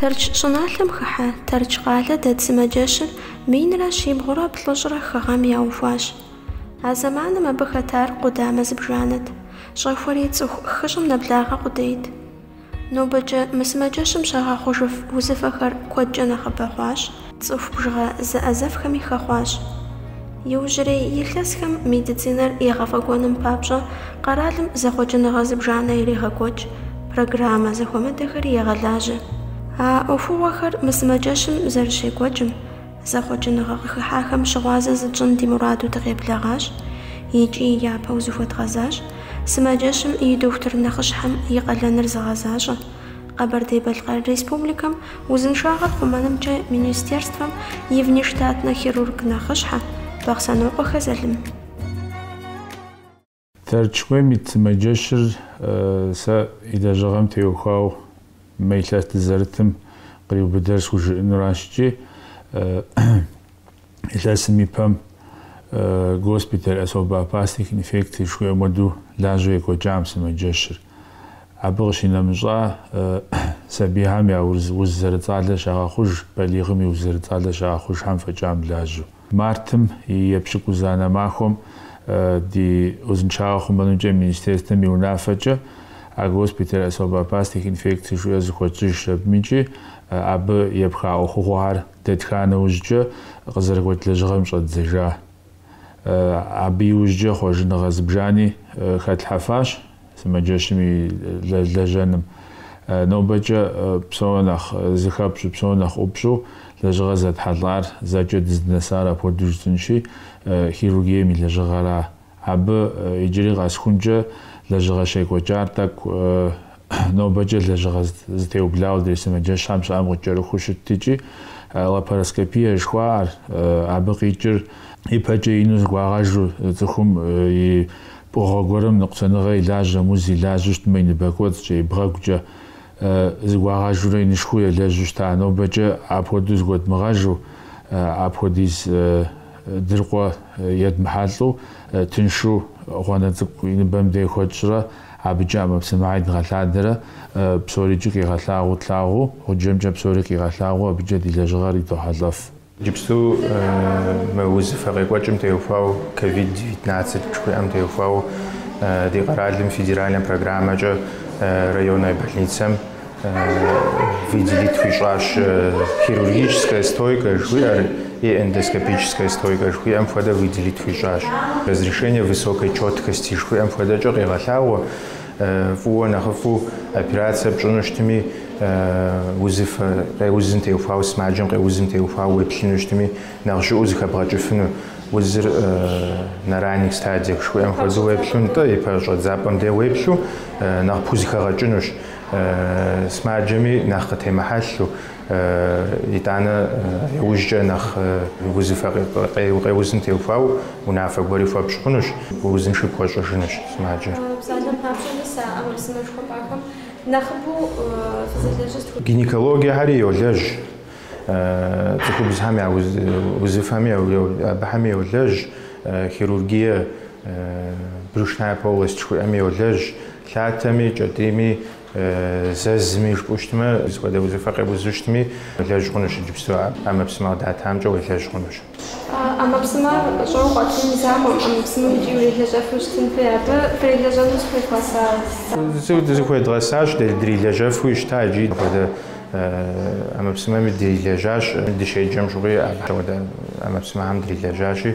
Тэрч щӏыналъэм хыхьэ Тэрч къалэ дэт сымаджэщыр минрэ щибгъурэ плӏыщӏрэ хы гъэм яухуащ. А зэманым абы хэтар къудамэ зыбжанэт, щӏэхуэри цӏыху хыщӏым нэблагъэ къудейт. Нобэкӏэ мы сымаджэщым щагъэхъужыф узыфэхэр куэдкӏэ нэхъыбэ хъуащ. Цӏыху бжыгъэ зэӏэзэфхэми хэхъуащ. Иужьрей илъэсхэм медицинэр егъэфӏэкӏуэным папщӏэ къэралым зэхъуэкӏыныгъэ зыбжанэ ирегъэкӏуэкӏ, программэ зэхуэмыдэхэри егъэлажьэ. А ӏуэхугъуэхэр мы сымаджэщым зэрыщекӏуэкӏым, зэхъуэкӏыныгъэ къыхыхьахэм щыгъуазэ зытщӏын ди мураду дыкъеблэгъащ икӏи япэу зыхуэдгъэзащ, сымаджэщым и дохутыр нэхъыщхьэм и къалэныр зыгъэзащӏэ. Къэбэрдей-Балъкъэр Республикэм узыншагъэр хъумэнымкӏэ министерствэм и внештатнэ хирург нэхъыщхьэ, Бахъсэнокъуэхэ Залым. Тэрч куейм ит сымаджэщыр сэ и лэжьыгъэм теухуау мы илъэс дызэрытым къриубыдэр схужыӏынуращ икӏи илъэсым и пэм госпиталь особо опасных инфекций жыхуиӏэм хуэдэу лажьэу екӏуэкӏа мы сымаджэщыр. Абы къыщинэмыщӏа, сабийхьэм я уз зэрыцӏалэ щагъэхъуж балигъым и уз зэрыцӏалэ щагъэхъужхьэм фӏэкӏа мылажьэу. Мартым и епщыкӏузанэ махуэм ди узыншагъэ хъумэнымкӏэ министерствэм и унафэкӏэ а госпиталь особо опасных инфекций жыӏэ зыхуэтщӏыжщ абым икӏи абы епха ӏуэхугъуэхэр дэтха нэужькӏэ къызэрыгуэкӏ лэжьыгъэм щӏэддзэжа. Абы иужькӏэ хъуэжыныгъэ зыбжани хэтлъхьэфащ сымаджэщым и лэжьэным. Нобэкӏэ псори нэхъ зыхэпщӏу, псори нэхъ ӏупщӏу лэжьыгъэ зэтхьэлӏар, зэкӏэ дыздынэсар апхуэдэу жытӏэнщи, хирургием и лэжьыгъэра. Абы иджыри къэсхункӏэ лэжьыгъэ щекӏуэкӏар тӏэкӏу Нобэкӏэ лэжьыгъэ зытеублауэ адрей сымаджэщхьэм щыӏэм къыкӏэрыхуу щытт икӏи лапароскопие жыхуаӏэр, абы къикӏыр ипэкӏэ ину зыгуагъэжу, цӏыхум и пкъыгъуэ гуэрым ныкъусаныгъэ и лажьэм, уз и лажьэу щытмэ и ныбэ кӏуэцӏкӏэ, и бгъэгукӏэ зыгуагъэжурэ инышхуэу елэжьу щыта. Нобэкӏэ апхуэдэу зыгуэдмыгъэжу, апхуэдиз дыркъуэ едмыхьэлӏэу тыншу гъуанэ цӏыкӏу и ныбэм дей хуэтщӏрэ, Абыкӏэ ӏэмэпсымэ идгъэлъадэрэ, псорикӏи къигъэлъагъуу тлъагъуу, гъуджэмкӏэ псори къигъэлъагъуу абыкӏэ ди лэжьыгъэр идохьэлӏэф. Иджыпсту мы узыфэ къекӏуэкӏым теухуауэ, ковид девятнадцать жыхуиӏэм теухуауэ, ди къэралым федеральнэ программэкӏэ районнэ больницэм Выделить хуищӏащ хирургическая стойка жыхуиӏэр е эндоскопическая стойка жыхуиӏэм хуэдэ выделить хуищӏащ. Разрешение высокой четкости жыхуиӏэм хуэдэкӏэ къегъэлъагъуэ фӏыуэ нэхъыфӏу операцие пщӏыну щытми, узыфэ къеузым теухуауэ, сымаджэм къеузым теухуауэ уеплъыну щытми, нэхъ жьыӏуэу зыхэбгъэкӏыфыну, узыр на ранних стадиях жыхуиӏэм хуэдэу уеплъу, нтӏэ, ипэ щӏэдзапӏэм де уеплъу нэхъ пхузыхэгъэкӏынущ. Сымаджэми нэхъ къытемыхьэлъу, итӏанэ иужькӏэ нэхъ узыфэ къеузым теухуауэ унафэ гуэри хуэпщӏ хъунущ, узынши пхуэщӏыжынущ сымаджэр. Псалъэм папщӏэ, мис а ӏэмэпсымэ жыхуэпӏахэм нэхъыбэу фызэлэжьыр сыт? Гинекологиехьэри йолэжь, цӏыхубзхэм я узыфэми абыхэми йолэжь, хирургие, брюшная полость жыхуиӏэми йолэжь, Лъатэми, кӏэтӏийми, зэзми, жыпӏэу щытмэ, сыт хуэдэ узыфэ къеузу щытми, уелэжь хъунущ иджыпсту а ӏэмэпсымэ къыдатамкӏэ уелэжь хъунущ. ӏэмэпсымэ щӏэуэ къуатын закъуэм, ӏэмэпсымэм икӏи урилэжьэфу щытын хуей, абы фрилэжьэну зыхуевгъэса? Зыхуедгъэсащ, дрилэжьэфу щыта икӏи апхуэдэ ӏэмэпсымэми дрилэжьащ, дыщеджэм щыгъуи апхуэдэ ӏэмэпсымэхэм дрилэжьащи.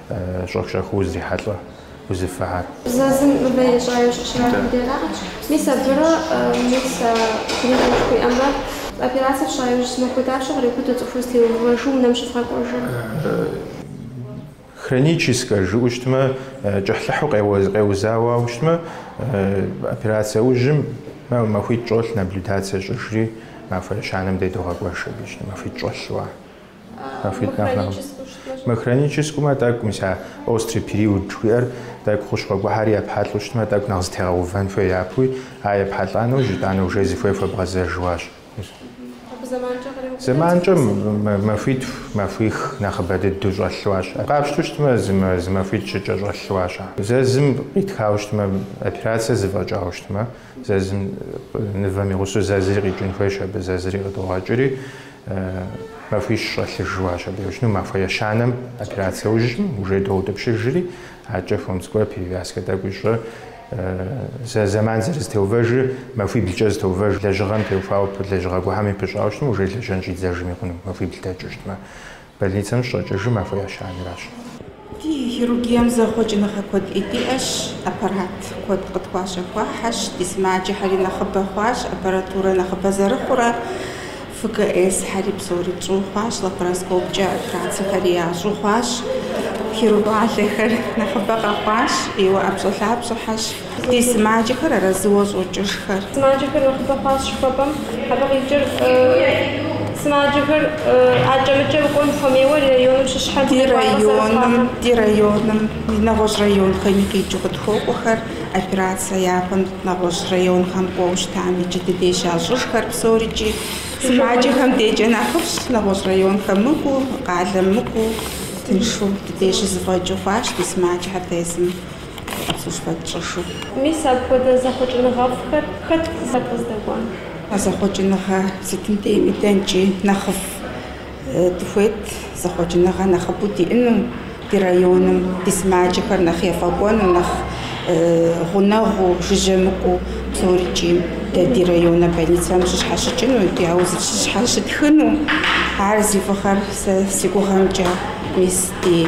Щӏэх-щӏэхыу узрихьэлӏэ узыфыхьэр. Зэзым мывэ ищӏауэ щӏыщрахым дерагъэкӏ. Мис абырэ, мис а гриппым жыхуиӏэмрэ, операцэ фщӏа иужь зы махуэ дапщэ кърикъуту цӏыхур зытеувэжу унэм щывгъэкӏуэжыр? Хроническэ жыӏэу щытмэ, кӏыхьлӏыхьу къеузауэ щытмэ, операцэ ужьым махуитӏ щӏолъ наблюдацэ щӏыжри, махуэ ещанэм де догъэкӏуэж абы щытмэ, махуитӏ щӏолъу ар. Мыхроническэмэ тӏэкӏу, мис а острый период жыхуиӏэр тӏэкӏу хущхъуэ гуэхьэри епхьэлӏэу щытмэ, тӏэкӏу нэхъ зытегъэувэн хуей япэуи, а епхьэлӏа нэужь итӏанэ уже зыхуей хуэбгъэзэжуащ. Абы зэманкӏэ къриубыдэт. Зэманкӏэ махуитху, махуих нэхъыбэ дыдэу щӏэлъуащ. Къапщту щытмэ, зы махуитӏ-щыкӏэ щӏэлъуащ. Зэзым къитхауэ щытмэ, операцэ зыфӏэкӏауэ щытмэ, Зэзым нывэм игъусэу зэзри къикӏын хуейщ абы, зэзри къыдогъэкӏри, махуищ щӏэлъыжуащ абы еущыну, махуэ ещанэм операцэ ужьым, уже доутӏыпщыжри, акӏэ Хомское перевязкэ тӏэкӏу ищӏэ, зэ зэман зэрызэтеувэжыр, махуиблкӏэ зытеувэж лэжьыгъэм теухуауэ лэжьыгъэ гуэхьэми пыщӏауэ щытмэ, уже лэжьэн щӏидзэжми хъуну, махуибл дэкӏыу щытмэ. Больницэм щыщӏэкӏыжыр махуэ ещанэращ. Ди хирургием зэхъуэкӏыныгъэ куэди диӏэщ, аппарат куэд къытхуащэхуахьэщ, ди сымаджэхьэри нэхъыбэ хъуащ, аппаратурэ нэхъыбэ зэрыхъурэ, ФКС-хьэри псори тщӏу хъуащ, лапароскопкӏэ операцэхэри ящӏу хъуащ, хирург щӏалэхэр нэхъыбэ къэхъуащ, Иуэ ӏэпщӏэлъапщӏэхьэщ. Ди сымаджэхэр арэзыуэ щӏокӏыжхэр. Сымаджэхэр нэхъыбэ хъуащ жыхуэпӏэм, абы къикӏыр сымаджэхэр акӏэмыкӏэу кӏуэн хуэмейуэ ди районым щыщхьэм Ди районым, ди районым нэгъуэщӏ районхэми къикӏыу къытхуокӏуэхэр операцэ япэм нэгъуэщӏ районхэм кӏуэу щытамикӏи ди дей щащӏыжхэр псорикӏи. Сымаджэхэм декӏэ нэхъыфӏщ, нэгъуэщӏ районхэм мыкӏуу, къалэм мыкӏуу тыншу ди дей щызэфӏэкӏыу хъуащ ди сымаджэхэр тезым. Сызыхэтщӏышу. Мис апхуэдэ зэхъуэкӏыныгъэфӏхэр хэт зэпкъыздэкӏуа? А зэхъуэкӏыныгъэ сытым дейми дэнкӏи нэхъыфӏ дыхуейт, зэхъуэкӏыныгъэ нэхъыбэу диӏэну ди районым, ди сымаджэхэр нэхъ ефӏэкӏуэну, нэхъ гъунэгъуу, жыжьэмыкӏуу псорикӏи. Дэ ди районнэ больницэм щыщхьэщыкӏыну, дэ я узыр щыщхьэщытхыну, ар зи фӏыгъэр сэ си гугъэмкӏэ, мис ди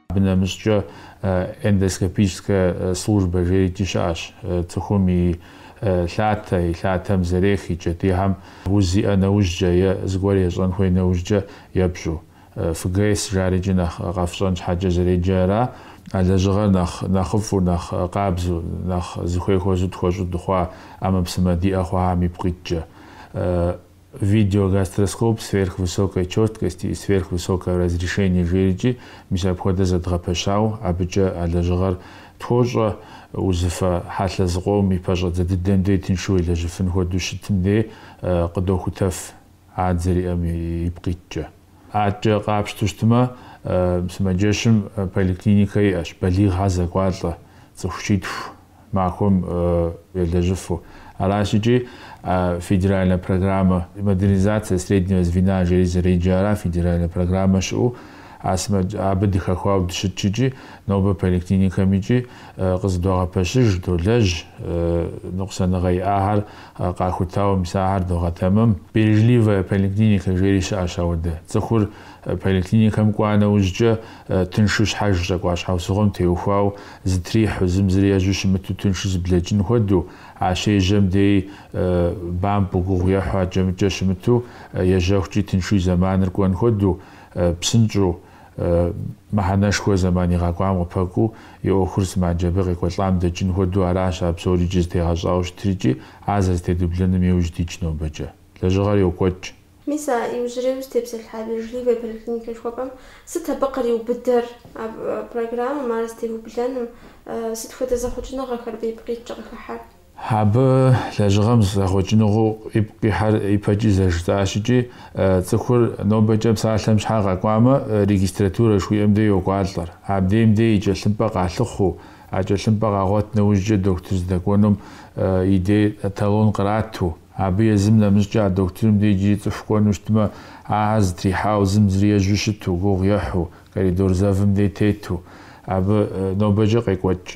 Абы нэмыщӏкӏэ эндоскопическая служба жерикӏи щыӏэщ, цӏыхум и лъатэ, и лъатэм зэрех и кӏэтӏийхьэм уз зиӏэ нэужькӏэ е зыгуэр ещӏэн хуей нэужькӏэ епщӏу. ФГС жарикӏи нэхъ къэфщӏэн щхьэкӏэ зэреджэра, а лэжьыгъэр нэхъ нэхъыфӏу, нэхъ къабзэу, нэхъ зыхуей хуэзу тхуэщӏу дыхъуа ӏэмэпсымэ диӏэ хъуахэм ипкъ иткӏэ. Видеогастроскоп сверхвысокой чёткости и сверхвысокого разрешения жерикӏи, мис апхуэдэ зэдгъэпэщауэ, абыкӏэ а лэжьыгъэр тхуощӏэ узыфэ хьэлъэ зыкъом и пэщӏэдзэ дыдэм дей тыншу елэжьыфын хуэдэу щытым дей къыдохутэф а дызэриӏэм ипкъ иткӏэ. Адэкӏэ къапщтэу щытмэ, сымаджэщым поликлиникэ иӏэщ, балигъхьэ зэкӏуалӏэ цӏыху щитху махуэм елэжьыфу. Аращ икӏи федеральнэ программэ Модернизация среднего звена жери зэреджэра, федеральнэ программэ щыӏэу а сымэ- абы дыхэхуауэ дыщытщ икӏи нобэ поликлиникэм икӏи къызыдогъэпэщыж, долэжь ныкъусаныгъэ иӏахьэр къахутауэ мис ахэр догъэтэмэм. Бережливая поликлиника жери щыӏэщ ауэдэ. Цӏыхур поликлиникэм кӏуа нэужькӏэ тыншу щхьэж щӏэкӏуа щхьэусыгъуэм теухуауэ Зытрихьу, зым зыри ежьэу щымыту тыншу зыблэкӏын хуэдэу, а щежьэм дей бампӏэу, гугъу ехьу аджэмыкӏэ щымыту, ежьэхукӏи тыншу и зэманыр кӏуэн хуэдэу, псынщӏэу, мыхьэнэшхуэ зэман игъэкӏуам къыпэкӏуу, и ӏуэхур сымаджэ абы къекӏуэлӏам дэкӏын хуэдэу аращ а псорикӏи зытегъэщӏауэ щытрикӏи, ар зэрызэтедублэным иужь дитщ нобэкӏэ. Лэжьыгъэр йокӏуэкӏ. Мис а иужьрейуэ зытепсэлъхьа бережливэ поликлиникэ жыхуэпӏэм сыт абы къриубыдэр? А программэм ар зытеублэным сыт хуэдэ зэхъуэкӏыныгъэхэр ипкъ иткӏэ къыхыхьэр? Абы лэжьыгъэм зэхъуэкӏыныгъэу ипкъ ихьэр ипэкӏи зэжытӏащикӏи цӏыхур нобэкӏэ псалъэм щхьа къэкӏуамэ, регистратурэ жыхуиӏэм де йокӏуалӏэр. Абдейм де и кӏэлъымпӏэ къалъыхъуу, а кӏэлъымпӏэ къагъуэт нэужькӏэ дохутыр здэкӏуэнум и де талон кърату, Абы езым нэмыщӏкӏэ а дохутырым де иджыри цӏыху кӏуэну щытмэ, ахьэр зытрихьауэ зым зыри ежьу щыту, гугъу ехьу, коридор зэвым де тету, абы нобэкӏэ къекӏуэкӏ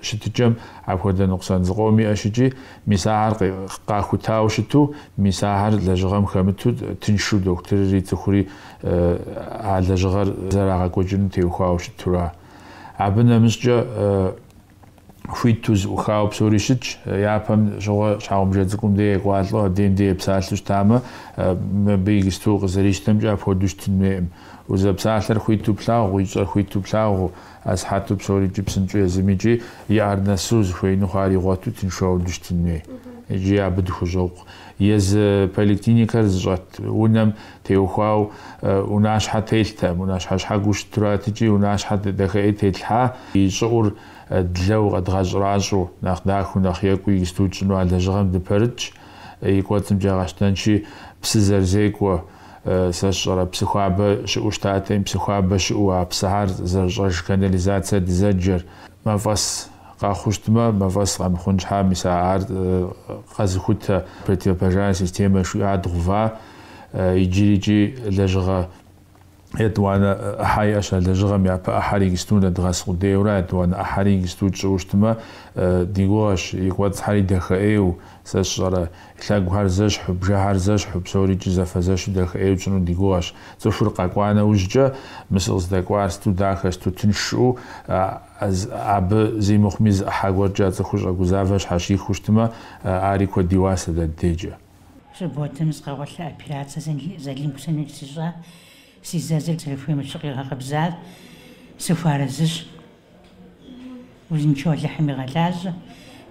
щытыкӏэм апхуэдэ ныкъусэн зыкъом иӏэщикӏи, мис ахьэр къахутауэ щыту, мис ахьэр лэжьыгъэм хэмыту тыншу дохутырри цӏыхури а лэжьыгъэр зэрагъэкӏуэкӏыну теухуауэ щытура. Абы нэмыщӏкӏэ. хуиту зыӏухауэ псори щытщ. Япэм щыгъуэ щхьэгъубжэ цӏыкӏум де екӏуалӏэу адейм де епсалъэу щытамэ, мыбы игысту къызэрищтэмкӏэ апхуэдэу щытын хуейӏым. Узэпсалъэр хуиту плъагъуу, ищӏэр хуиту плъагъуу, асыхьэту псорикӏи псынщӏэу езымикӏи и ар нэсу зыхуеину хъуар игъуэту тыншу дыщытын хуей икӏи абы дыхущӏокъу. Езы поликлиникэр зыщӏэт унэм теухуауэ унащхьэ телътэм, унащхьэ щхьэгуу щытуратикӏи, унащхьэ дахэӏей тетлъхьа, и щӏыӏур длэу къэдгъэщӏращӏу, нэхъ дахэу, нэхъ екӏуу игысту тщӏыну а лэжьыгъэм дыпэрытщ, и кӏуэцӏымкӏэ къэтщтэнщи, псы зэрызекӏуэ, сэ сщӏэрэ, псы хуабэ щыӏэу щытатэм, псы хуабэ щыӏэу а псыхьэр зэрыщӏэж канализацэ дызэджэр, мафӏэс. къэхъуу щытмэ, мафӏэс къэмыхъун щхьа, мис а ар къэзыхутэ противопожарная системэ жыхуиӏа дгъува. Иджырикӏи лэжьыгъэ етӏуанэ ӏыхьэ иӏэщ. А лэжьыгъэм япэ ӏыхьэр игысту нэдгъэс къудейура, етӏуанэ ӏыхьэри игысту тщӏыу щытмэ, ди гугъэщ, и кӏуэцӏхьэри дахэӏейуэ, сэ сщӏэрэ, лъэгухэр зэщхьу, бжэхэр зэщхьу, псорикӏи зэфэзэщу дахэӏейуэ тщӏыну ди гугъэщ. Цӏыхур къэкӏуа нэужькӏэ, мы сыкъыздэкӏуар сыту дахэ, сыту тынш жиӏэу, Абы зи мыхъуми зы ӏыхьэ гуэркӏэ а цӏыхур щӏэгузавэр щхьэщихыу щытмэ, ари куэд и уасэ дэ ди дейкӏэ. Субботэм сыкъэгъуэлъа, операцэ Зэлим Хусенович ищӏа, си зэзыр зэрыхуейм ещхьу къигъэкъэбзар сыхуарэзыщ. Узыншэу Алыхьым игъэлажьэ,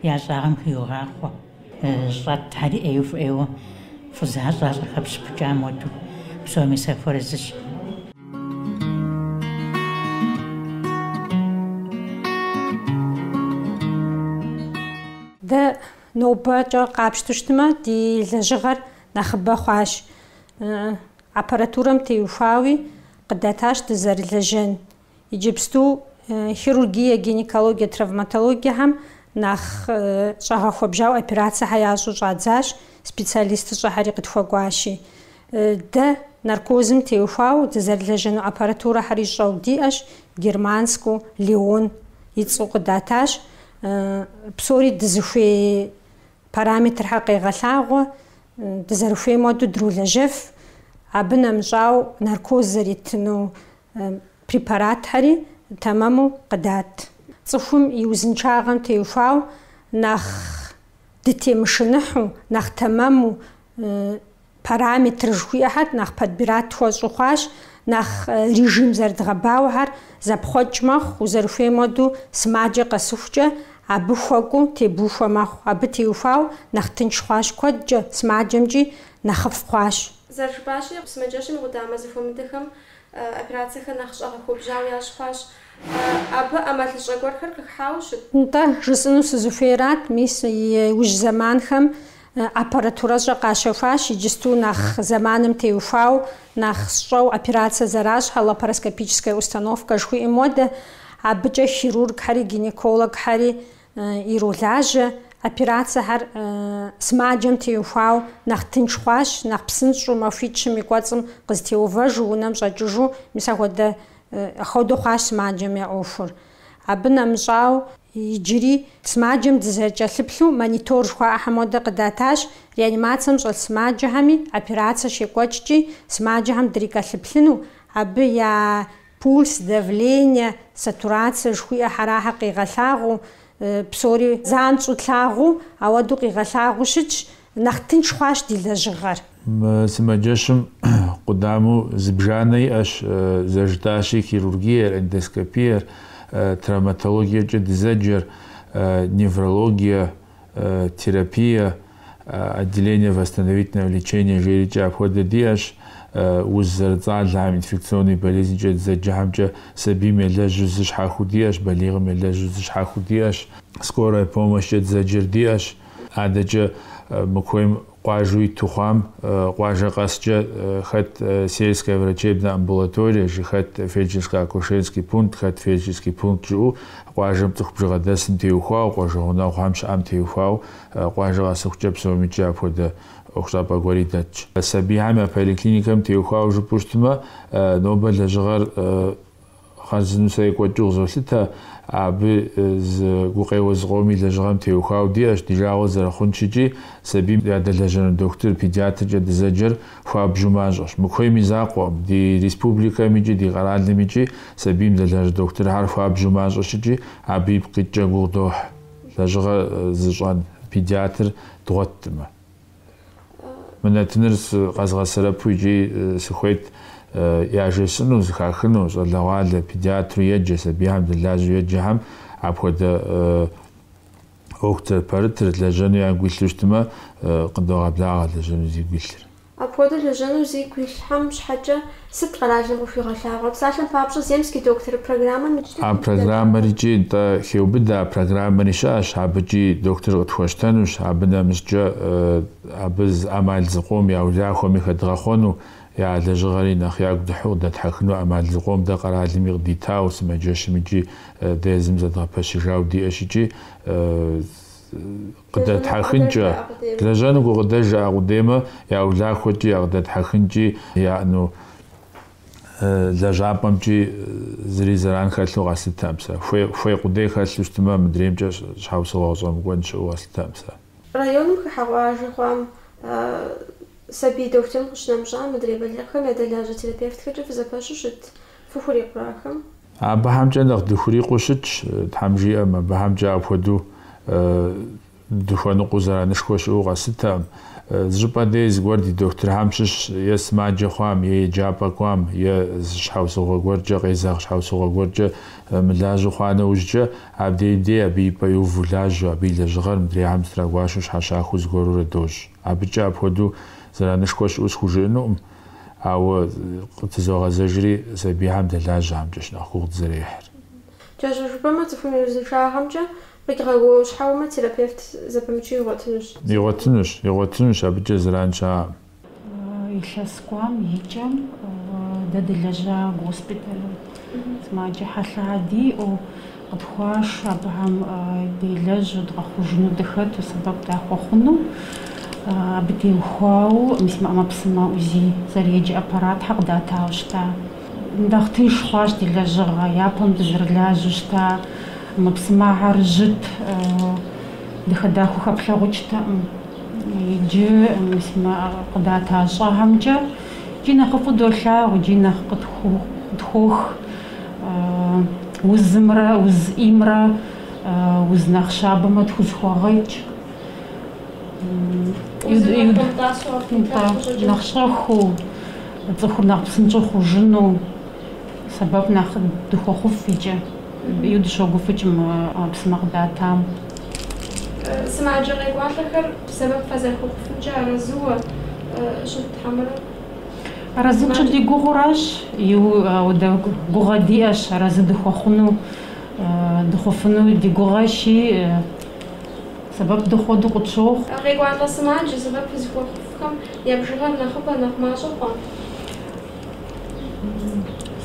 и ӏэщӏагъэм хиугъахъуэ. Щӏэтхьэри ӏейуэ ӏейуэ фӏы защӏэщ, къахэпщыпыкӏам хуэду, псоми сахуэарэзыщ. Дэ нобэкӏэ къапщту щытмэ, ди лэжьыгъэр нэхъыбэ хъуащ. Аппаратурэм теухуауи къыдатащ дызэрылэжьэн Иджыпсту хирургие, гинекологие, травматологиехэм нэхъ щӏэгъэхуэбжьауэ операцэхэр ящӏу щӏадзащ, специалистыщӏэхэри къытхуэкӏуащи. Дэ наркозым теухуауэ дызэрылэжьэну аппаратурэхэри щӏэу диӏэщ, Германскэу, Леон и цӏэу къыдатащ. Псори дызыхуей параметрхэр къегъэлъагъуэ, дызэрыхуейм хуэдэу дролэжьэф. Абы нэмыщӏауэ, наркоз зэритыну препаратхэри тэмэму къыдат. Цӏыхум и узыншагъэм теухуауэ нэхъ дытемышыныхьу, нэхъ тэмэму, параметр жыхуиӏэхэр нэхъ подбират тхуэщӏу хъуащ, нэхъ режим зэрыдгъэбауэхэр зэпхъуэкӏ мэхъу, узэрыхуейм хуэдэу сымаджэ къэсыхукӏэ абы хуэкӏуу тебухуэ мэхъу. Абы теухуауэ нэхъ тынш хъуащ куэдкӏэ, сымаджэмкӏи нэхъыфӏ хъуащ. Зэрыжыпӏащи, сымаджэщым и къудамэ зэхуэмыдэхэм Операцэхэр нэхъ щӏэгъэхуэбжьауэ ящӏ хъуащ. Абы ӏэмалыщӏэ гуэрхэр къыхыхьауэ щыт? Нтӏэ, жысӏыну сызыхуейрат, мис иужь зэманхэм аппаратурэщӏэ къащэхуащ, иджысту нэхъ зэманым теухуау, нэхъ щӏэу операцэ зэращӏхэ, лапароскопическая установкэ жыхуиӏэм хуэдэ, абыкӏэ хирургхэри, гинекологхэри иролажьэ, операцэхэр сымаджэм теухуау нэхъ тынш хъуащ, нэхъ псынщӏу махуитӏ-щым и кӏуэцӏым къызытеувэжу унэм щӏэкӏыжу, мис ахуэдэ хуэдэу хъуащ сымаджэм я ӏуэхур. Абы нэмыщӏау иджыри сымаджэм дызэрыкӏэлъыплъу монитор жыхуаӏэхэм хуэдэ къыдатащ, реанимацэм щӏэлъ сымаджэхэми операцэ щекӏуэкӏкӏи сымаджэхэм дрикӏэлъыплъыну, абы я Пульс, давление, сатурацие жыхуиӏэхэр ахэр къигъэлъагъуу, псори занщӏэу тлъагъуу, ауэдэу къигъэлъагъуу щытщ, нэхъ тынш хъуащ ди лэжьыгъэр. Мы сымаджэщым къудамэу зыбжанэ иӏэщ, зэрыжытӏащи, хирургиер, эндоскопиер, травматологиекӏэ дызэджэр, неврологие, терапие, отделение восстановительного лечения жиӏэрикӏэ апхуэдэ диӏэщ. Уз зэрыцӏалэхэм инфекционный болезнкӏэ дызэджэхэмкӏэ сабийм елэжьу зы щхьэхуэу диӏэщ, балигъым елэжьу зы щхьэхуэу диӏэщ. Скорая помощкӏэ дызэджэр диӏэщ. Адэкӏэ мы куейм Къуажэу иту хъуам къуажэ къэскӏэ хэт сельская врачебная амбулатория жи хэт фельдшерско-акушерский пункт, хэт фельдшерский пункт жиӏэу къуажэм цӏыху бжыгъэ дэсым теухуау, къуажэ гъунэгъухэм щыӏэм теухуау къуажэ къэсыхукӏэ псомикӏи апхуэдэ ӏуэхущӏапӏэ гуэри дэтщ. Сабийхэм я поликлиникэм теухуау жыпӏэу щытмэ, нобэ лэжьыгъэр Хъарзынэу сэ екӏуэкӏыу къызолъытэ, абы зы гукъеуэ зыкъоми лэжьыгъэм теухуауэ диӏэщ, ди жагъуэ зэрыхъунщ икӏи, сабийм ядэлэжьэну дохутыр, педиатркӏэ дызэджэр хуабжьу мащӏэщ. Мы куейм и закъуэкъым, ди республикэм икӏи ди къэралым икӏи сабийм дэлэжь дохутырхьэр хуабжьу мащӏэщ икӏи, абы ипкъ иткӏэ гугъу дохь, лэжьыгъэ зыщӏэн педиатр дгъуэттмэ. Мы нэтыныр къэзгъэсэрэпу икӏи сыхуейт яжесӏыну, зыхахыну, щӏалэгъуалэ, педиатру еджэ, сабийхэм дэлажьэу еджэхэм апхуэдэ ӏуэхутыр, пэрытыр лэжьэну ягу илъу щытмэ, къыдогъэблагъэ лэжьэну зигу илъыр. Апхуэдэу лэжьэну зигу илъхэм щхьэкӏэ Сыт къэралым къыхуигъэлъагъуэр? Псалъэм папщӏэ, земский доктор программэм иджыри А дыдэу щыӏэщ. программэр икӏи нтӏэ хеубыдэ, а программэри щыӏэщ, абыкӏи доктор къытхуэщтэнущ, абы нэмыщӏкӏэ абы ӏэмал зыкъом я улахуэми хэдгъэхъуэну, я лэжьыгъэри нэхъ ягу дыхьэу къыдэтхьэхыну ӏэмал зыкъом дэ къэралми къыдитауэ, сымаджэщым икӏи дэ езым зэдгъэпэщыжауэ диӏэщ икӏи Къыдэтхьэхынкӏэ, лэжьэну гукъыдэж яӏэ къудеймэ я улахуэкӏи, я къыдэтхьэхынкӏи, яӏэну лэжьапӏэмкӏи зыри зэран хэлъу къэслъытэкъым сэ. Хуей къудей хэлъу щытмэ, мыдреймкӏэ щхьэусыгъуэ къыщӏэмыкӏуэн щыӏэу къэслъытэкъым сэ. Районым хыхьэ къуажэ хъуам сабий дохутырым къыщынэмыщӏа мыдрей балигъхэм ядэлажьэ терапевтхэкӏэ фызэпэщу щыт. фыхурикъурэ ахэм? Абыхэмкӏэ нэхъ дыхурикъуу щытщ, Тхьэм жиӏэм, абыхэмкӏэ апхуэдэу дыхуэныкъуэу зэранышхуэ щыӏэу къэслъытэкъым. Зыщӏыпӏэ дей зыгуэр ди дохутырхэм щыщ, е сымаджэ хъуам, е еджапӏэ кӏуам, е зы щхьэусыгъуэ гуэркӏэ, къезэгъ щхьэусыгъуэ гуэркӏэ мылажьэу хъуа нэужькӏэ, абдей дей абы и пӏэ иуву лажьэу, абы и лэжьыгъэр мыдрейхэм зытрагуашэу щхьэщахыу зыгуэрурэ дощӏ. Абыкӏэ апхуэдэу зэранышхуэ щыӏэу схужыӏэнукъым. Ауэ къытызогъэзэжри сабийхьэм дэлажьэхэмкӏэщ нэхъ гугъу дызэрехьыр. Кӏэщӏу жыпӏэмэ, цӏыхум и узыншагъэмкӏэ къигъэгуауэщхьэуэмэ, терапевт зэпымычу игъуэтынущ. Игъуэтынущ, игъуэтынущ, абыкӏэ зэран щыӏэкъым. Илъэс кӏуам и кӏэм дэ дылэжьа госпиталым сымаджэ хьэлъэ диӏэу, Къытхуашэ абыхэм делэжьу дгъэхъужыну дыхэту, сэбэп дахуэхъуну. Абы теухуауэ мис мы ӏэмэпсымэ УЗИ зэреджэ аппаратхэр къыдатауэ щыта. Нэхъ тынш хъуащ ди лэжьыгъэ, япэм дызэрылажьэу щыта, ӏэмэпсымэхэр жьыт, дахэ-дахэу хэплъагъукӏтэкъым. Иджы мис мы къыдата щӏэхэмкӏэ икӏи нэхъыфӏу долъагъу, икӏи нэхъ къытхуох. узымрэ уз ӏеймрэ уз нэхъ щабэмрэ тхузэхэгъэкӏыу, нэхъ щӏэхыу, цӏыхур нэхъ псынщӏэу хъужыну сэбэп нэхъ дыхуэхъуф икӏи ину дыщогуфӏыкӏ ӏэмэпсымэ къыдатам. Сымаджэ къекӏуалӏэхэр сэбэп фызэрыхуэхъуфымкӏэ арэзыуэ щыт хьэмэрэ? Арэзы тщӏы ди гугъуращ, ауэдэ гугъэ диӏэщ арэзы дыхуэхъуну, дыхъуфыну ди гугъэщи, сэбэп дыхъу хуэдэу къытщохъу. Къекӏуалӏэ сымаджэ сэбэп фызыхуэхъуфхэм я бжыгъэр нэхъыбэ, нэхъ мащӏэ хъуа?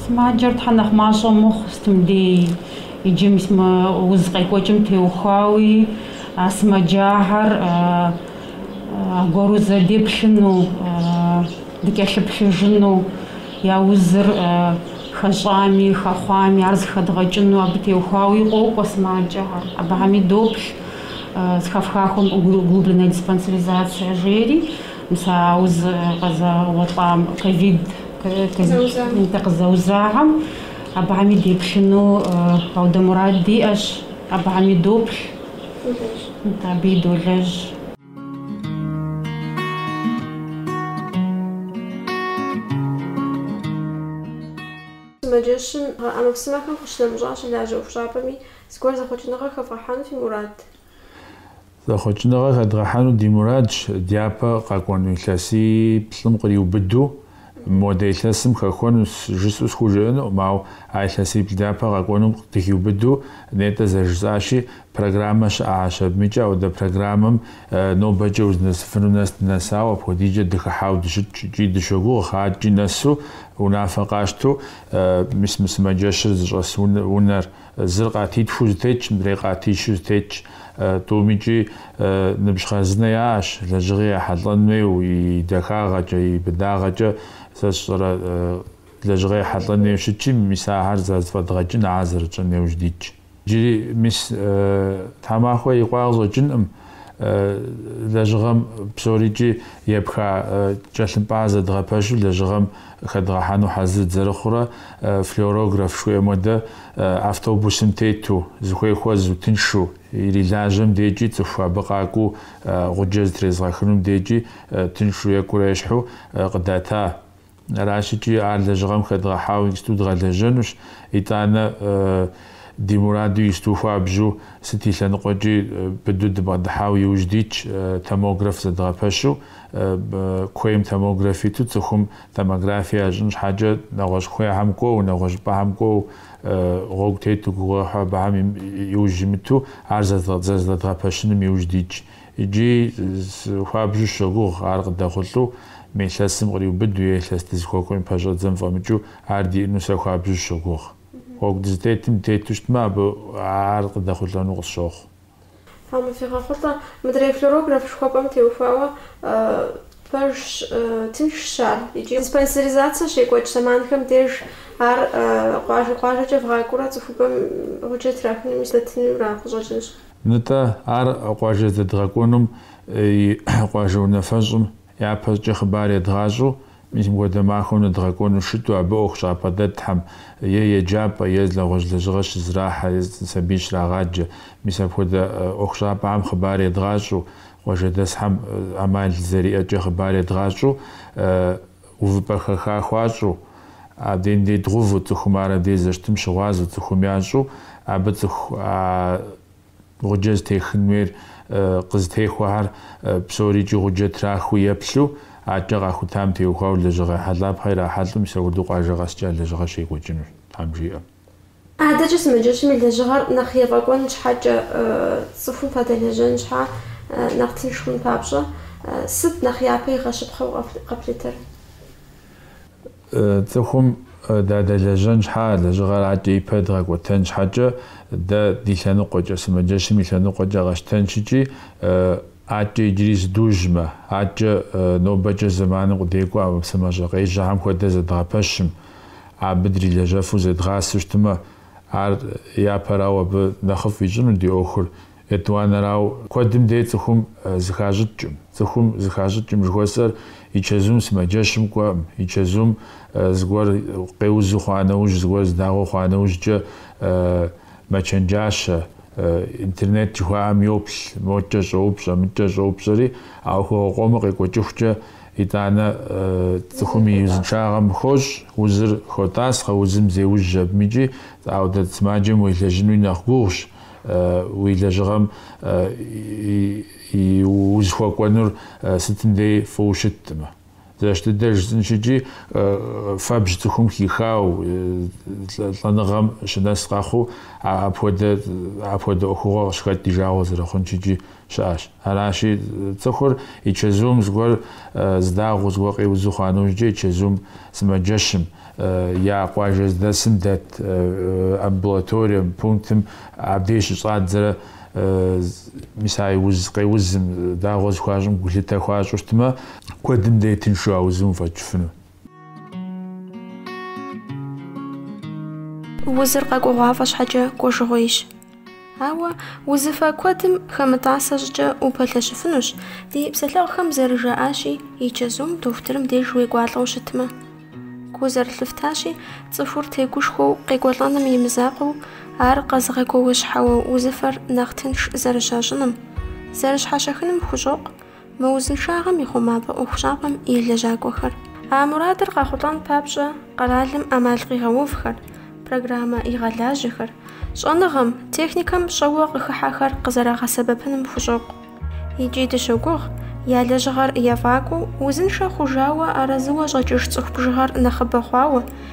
Сымаджэр тхьэ нэхъ мащӏэ мыхъу, сытым дей иджы мис мы уз къекӏуэкӏым теухуауи, а сымаджахэр аргуэру зэ деплъыну, дыкӏэлъыплъыжыну, я узыр хэщӏами, хэхъуами, ар зыхэдгъэкӏыну абы теухуауи къокӏуэ сымаджэхэр. Абыхэми доплъ зыхэфхахуэм углубленная диспансеризация жери, мис а уз къызэуэлӏам, ковид къызэузахэм, абыхэми деплъыну ауэдэ мурад диӏэщ, абыхэми доплъ. Абыи долэжь. Сымаджэщым ӏэмэпсымэхэм къыщынэмыщӏа, щылажьэ ӏуэхущӏапӏэми зыгуэр зэхъуэкӏыныгъэ хэвгъэхьэну фи мурад? Зэхъуэкӏыныгъэ хэдгъэхьэну ди мурадщ, дяпэ къэкӏуэну илъэсиплӏым къриубыду Модэ илъэсым хэхуэну жысӏэу схужыӏэнукъым, ауэ а илъэсиплӏ дяпэ къэкӏуэнум дыхиубыду нетӏэ зэрыжысӏащи, программэ щыӏащ абымкӏэ, ауэдэ программэм нобэкӏэ узынэсыфыну нэс дынэсауэ, апхуэдизкӏэ дыхыхьауэ дыщытщ икӏи дыщогугъ адэкӏи нэсу унафэ къащтэу мис мы сымаджэщыр зыщӏэс унэр. Зыр къатитхуу зытетщ, мыдрей къатищу зытетщ. Тӏум икӏи ныбжь хъарзынэ яӏэщ, лэжьыгъи ехьэлӏэн хуейуэ, и дахагъэкӏэ, и быдагъэкӏэ. Сэ сщӏэрэ, лэжьыгъи ехьэлӏэн хуейуэ щытщи, мис ахэр зэрызэфӏэдгъэкӏын, ахэр зэрытщӏын иужь дитщ. Иджыри мис тхьэмахуэ икъуа къыщӏэкӏынкъым. лэжьыгъэм псорикӏи епха тхылъымпӏэр зэдгъэпэщу лэжьыгъэм хэдгъэхьэну хьэзыр дызэрыхъурэ флюорограф жыхуаӏэм хуэдэ автобусым тету, зыхуей хуэзу, тыншу ирилажьэм декӏи цӏыху абы къакӏуэу гъуджэ зытрезгъэхынум декӏи тыншу екӏурэ ещхьу къыдата. Аращикӏи ар лэжьыгъэм хэдгъэхьауэ исту дгъэлэжьэнущ, итӏанэ ди мураду исту хуабжьу сыт и лъэныкъуэкӏи быду дыбгъэдыхьауэ иужь дитщ, томограф зэдгъэпэщу. Куейм томограф иту цӏыхум томографие ящӏын щхьэкӏэ нэгъуэщӏ куейхэм кӏуэу, нэгъуэщӏыпӏэхэм кӏуэу гъуэгу тету гугъуехьу абыхэм иужь имыту ар зэрызэдгъэпэщыным иужь дитщ. Иджы хуабжьу сыщогугъ ар къыдэхъулӏэу, мы илъэсым къриубыду е илъэс дызыхуэкӏуэм и пэщӏэдзэм фӏэмыкӏыу ар диӏэну сэ хуабжьу сыщогугъ. Гъуэгу дызытетым дытету щытмэ, абы ар къыдэхъулӏэну къысщохъу. Тхьэм къывигъэхъулӏэ, мыдрей флюорограф жыхуэпӏэм теухуауэ пэжщ, тыншщ ар икӏи диспансеризацэ щекӏуэкӏ зэманхэм деж ар къуажэ-къуажэкӏэ вгъакӏуэурэ цӏыхубэм гъуджэ трахыным здэтынур ара къыщӏэкӏынщ. Нытӏэ, ар къуажэ здэдгъэкӏуэнум и къуажэ унафэщӏым япэщӏыкӏэ хъыбар едгъащӏэу, мис мыхуэдэ махуэм ныдгъэкӏуэну щыту, абы ӏуэхущӏапӏэ дэтхьэм, е еджапӏэ, е нэгъуэщӏ лэжьыгъэ щызрахьэ, е сабий щрагъаджэ, мис апхуэдэ ӏуэхущӏапӏэхэм хъыбар едгъащӏэу, къуажэдэсхэм ӏэмал зэриӏэкӏэ хъыбар едгъащӏэу, Увыпӏэ хэха хуащӏу, абдейм дей дгъэуву, цӏыхум ар абдей зэщытым щыгъуазэу, цӏыхум ящӏу, абы цӏыху а гъуджэ зытехын хуейр къызытехуэхэр псорикӏи гъуджэ трахыу еплъу, адэкӏэ къахутам теухуауэ лэжьыгъэ ехьэлӏапхъэ ирахьэлӏэу мис апхуэдэу къуажэ къэскӏэ а лэжьыгъэр щекӏуэкӏынущ, Тхьэм жиӏэ. Адэкӏэ сымаджэщым и лэжьыгъэр нэхъ ефӏэкӏуэн щхьэкӏэ, цӏыхум фадэлэжьэн щхьа нэхъ тынш хъун папщӏэ, сыт нэхъ япэ игъэщыпхъэу къэплъытэр? Цӏыхум дадэлэжьэн щхьа лэжьыгъэр акӏэ ипэ дгъэкӏуэтэн щхьэкӏэ, дэ ди лъэныкъуэкӏэ, сымаджэщым и лъэныкъуэкӏэ къэтщтэнщ икӏи, акӏэ иджыри зыдужьмэ, акӏэ нобэкӏэ зэманым къыдекӏуэу ӏэмэпсымэщӏэ къежьэхэм хуэдэ зэдгъэпэщым, абы дрилэжьэфу зедгъасэу щытымэ, ар япэрауэ абы нэхъыфӏ ищӏыну ди ӏуэхур, етӏуанэрауэ куэдым дей цӏыхум зыхащӏыкӏӏым. Цӏыхум зыхащӏыкӏӏым жыхуэсӏэр и чэзум сымаджэщым кӏуэӏым, и чэзум зыгуэр къеузу хъуа нэужь, зыгуэр здагъуэ хъуа нэужькӏэ мэчэнджащэ, интернет жыхуаӏэм йоплъ, мокӏэ щӏоупщӏэ, мыкӏэ щӏоупщӏэри, а ӏуэхугъуэ къомыр къекӏуэкӏыхукӏэ Итӏанэ цӏыхум и узыншагъэм хощӏ, узыр хотӏасхъэ, узым зеужь абым икӏи апхуэдэ сымаджэм уелэжьынуи нэхъ гугъущ, уи лэжьыгъэм узыхуэкӏуэнур сытым дей фӏыуэ щытӏым. Зэщ дыдэ жысӏынщ икӏи, фэбжь цӏыхум хихауэ, лӏэныгъэм щынэс къэхъуу апхуэдэ ӏуэхугъуэ къыщыхэкӏ ди жагъуэ зэрыхъунщ икӏи. щыӏэщ. Аращи, цӏыхур и чэзум зыгуэр зы дагъуэ, зыгуэр къеузу хъуа нэужькӏэ и чэзум сымаджэщым, я къуажэ здэсым дэт амбулаторием, пунктым абдеж щыщӏадзэрэ, мис а и уз къеузым дагъуэ зыхуащӏым гулъытэ хуащӏу щытмэ, куэдым дей тыншу а узым уфӏэкӏыфыну. Узыр къэкӏуэгъуафӏэ щхьэкӏэ кӏуэжыгъуейщ. Ауэ узыфэ куэдым хэмытӏасэ щӏыкӏэ упэлъэщыфынущ, ди псэлъэгъухэм зэрыжаӏащи, и чэзум дохутырым деж уекӏуалӏэу щытмэ. Гу зэрылъыфтащи, цӏыхур тегушхуэу къекӏуэлӏэным и мызакъуэу, ар къэзыгъэгуэуэщхьэуэ узыфэр нэхъ тынш зэрыщащӏыным, зэрыщхьэщахыным хущӏокъу, Мы узыншагъэм и хъумапӏэ ӏуэхущӏапӏэм и лэжьакӏуэхэр. А мурадыр къайхъулӏэн папщӏэ къэралым ӏэмал къигъэувхэр, программэ игъэлажьэхэр, щӏэныгъэм, техникэм щӏэуэ къыхыхьэхэр къызэрагъэсэбэпыным хущӏокъу. Икӏи дыщогугъ, я лэжьыгъэр ефӏакӏуэу, узыншэ хъужауэ арэзыуэ щӏэкӏыж цӏыху бжыгъэр нэхъыбэ хъуауэ,